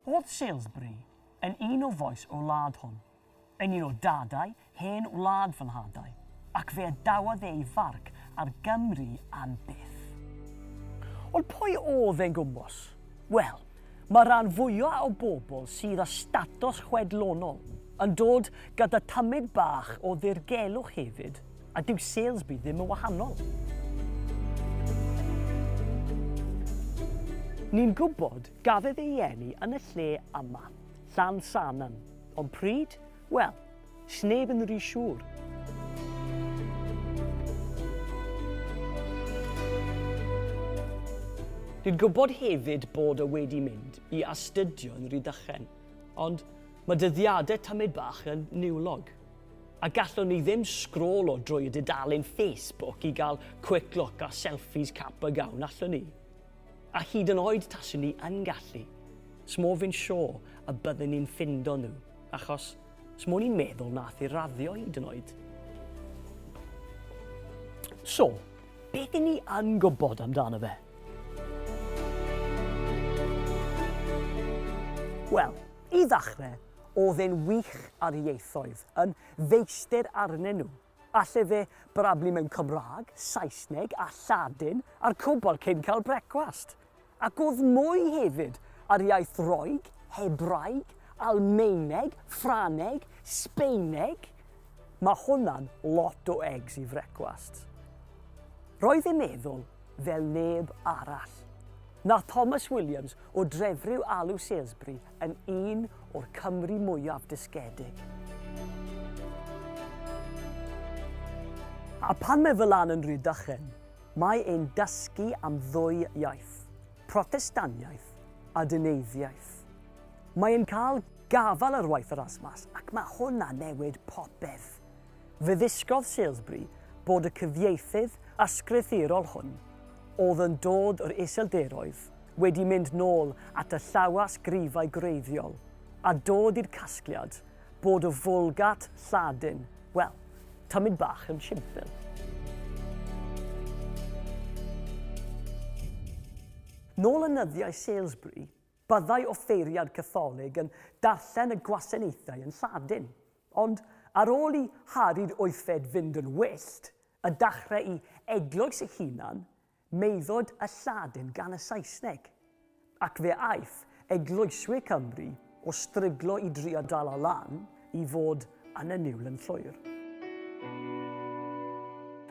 Oedd Salesbury yn un o fois y wlad hon, yn un o dadau hen wlad fy nhadau, ac fe adawodd ei farc ar Gymru am byth. Ond pwy oedd e'n gwmws? Wel, mae'r rhan fwyaf o bobl sydd â statws chwedlonol yn dod gyda tymid bach o ddirgelwch hefyd, A dyw Salesby ddim yn wahanol. Ni'n gwybod gafedd ei eni yn y lle yma, Llan Sanan, ond pryd? Wel, sneb yn ry siŵr. Ni'n gwybod hefyd bod o wedi mynd i astudio yn Rhydychen, ond mae dyddiadau tamed bach yn niwlog. A gallwn ni ddim sgrôlo drwy y dudalen Facebook i gael quick look a selfies cap a gown, allwn ni? A hyd yn oed taswn ni yn gallu, smo fi'n siôr y byddwn ni'n ffindo nhw, achos smo ni'n meddwl nath i raddio hyd yn oed. So, beth i ni yn gwybod amdano fe? Wel, i ddechrau, Oedd e'n wych ar ieithoedd, yn feistr arnyn nhw. Alle fe brablu mewn Cymraeg, Saesneg a Lladin a'r cwbl cyn cael brecwast. Ac oedd mwy hefyd ar iaith Roeg, Hebraeg, Almaeneg, Ffraneg, Sbeineg. Mae hwnna'n lot o eggs i frecwast. Roedd e'n meddwl fel neb arall. Nath Thomas Williams o Drefriw Alw Salesbury yn un o'r Cymru mwyaf dysgedig. A phan mae fy lan yn Rhydychen, mae e'n dysgu am ddwy iaith, Protestaniaeth a Dyneiddiaeth. Mae e'n cael gafal ar waith Erasmus ac mae hwnna'n newid popeth. Fe ddysgodd Salesbury bod y cyfieithydd ysgrythurol hwn, oedd yn dod o'r Iseldiroedd, wedi mynd nôl at y llawysgrifau gwreiddiol a dod i'r casgliad bod y Vulgate Lladin, wel, tymid bach yn simpl. Nôl yn nyddiau Salesbury, byddai offeiriad Catholig yn darllen y gwasanaethau yn Lladin. Ond ar ôl i Harri'r Wythfed fynd yn wyllt, a dachrau'i eglwys ei hunan, meudod y Lladin gan y Saesneg, ac fe aeth eglwyswyr Cymru o stryglo i drio dala lan i fod yn y niwl yn llwyr.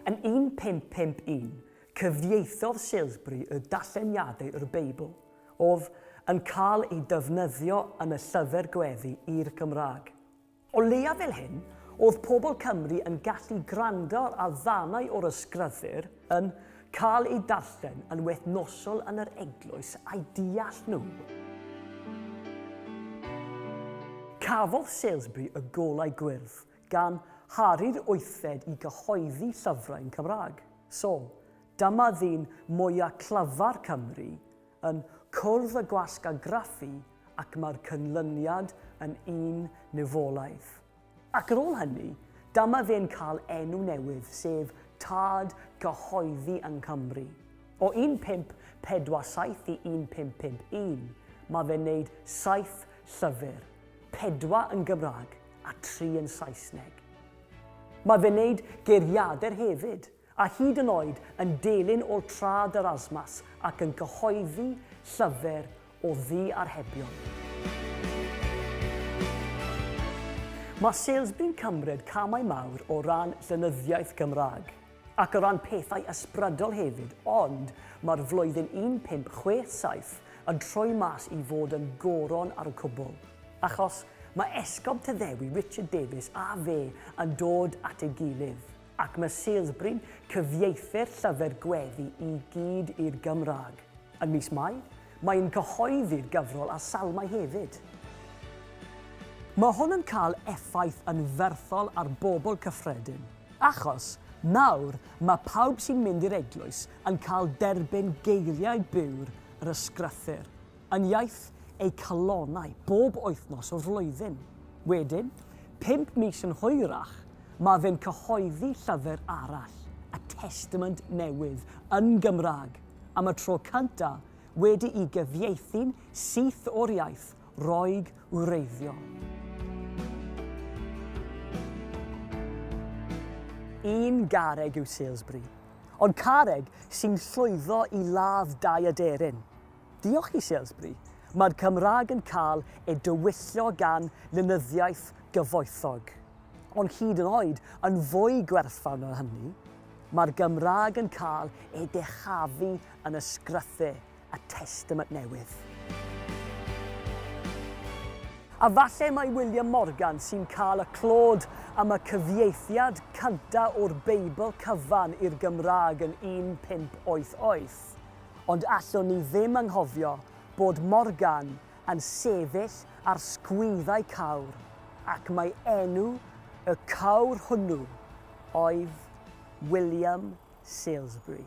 Yn 1551, cyfieithodd Salesbury y darlleniadau o'r Beibl Of, yn cael ei defnyddio yn y llyfr gweddi i'r Gymraeg. O leiaf fel hyn, oedd pobl Cymru yn gallu gwrando ar ddarnau o'r ysgrythur yn cael eu darllen yn wythnosol yn yr eglwys a'u deall nhw. Cafodd Salesbury y Golau Gwyrdd gan Harri'r Wythfed i gyhoeddi llyfrau'n Cymraeg. Sol, Dyma ddyn mwya clyfar Cymru yn cwrdd y gwasg a graffu ac mae'r cynlyniad yn un niwfolaidd. Ac ar ôl hynny, dyma fe'n cael enw newydd, sef Tad Cyhoeddi yng Nghymru. O 1547 i 1551, mae fe'n neud saith llyfr, pedwar yn Gymraeg a tri yn Saesneg. Mae fe'n neud geiriadur hefyd. a hyd yn oed yn delyn ôl traed yr asmas ac yn cyhoeddi llyfr o ddiarhebion. Mae Salesbury'n cymryd camau mawr o ran llenyddiaeth Gymraeg, ac o ran pethau ysbrydol hefyd, ond mae'r flwyddyn 1567 yn troi mas i fod yn goron ar y cwbl, achos mae Esgob Tyddewi, Richard Davies a fe yn dod at ei gilydd. Ac mae Salesbury'n cyfieithu'r llyfr gweddi i gyd i'r Gymraeg. Yn mis Mai, mae'n cyhoeddi'r gyfrol a salmau hefyd. Mae hwn yn cael effaith anferthol ar bobl cyffredin, achos nawr mae pawb sy'n mynd i'r eglwys yn cael derbyn geiriau byr yr Ysgrythur. yn iaith eu calonnau bob wythnos o'r flwyddyn. Wedyn, pump mis yn hwyrach, mae fe'n cyhoeddi llyfr arall, A Testament Newydd, yn Gymraeg, am y tro cynta' wedi'i gyfieithu'n syth o'r iaith Roeg wreiddiol. Un garreg yw Salesbury, ond carreg sy'n llwyddo i ladd dau aderyn. Diolch i Salesbury, mae'r Cymraeg yn cael ei dywyllio gan lenyddiaeth gyfoethog. Ond hyd yn oed yn fwy gwerthfawr na hynny, mae'r Gymraeg yn cael ei dechafu yn y sgrythau a testament newydd. A falle mai William Morgan sy'n cael y clod am y cyfieithiad cyntaf o'r Beibl cyfan i'r Gymraeg yn 1588. Ond allwn ni ddim anghofio bod Morgan yn sefyll ar sgwyddau cawr ac mai enw y cawr hwnnw oedd William Salesbury.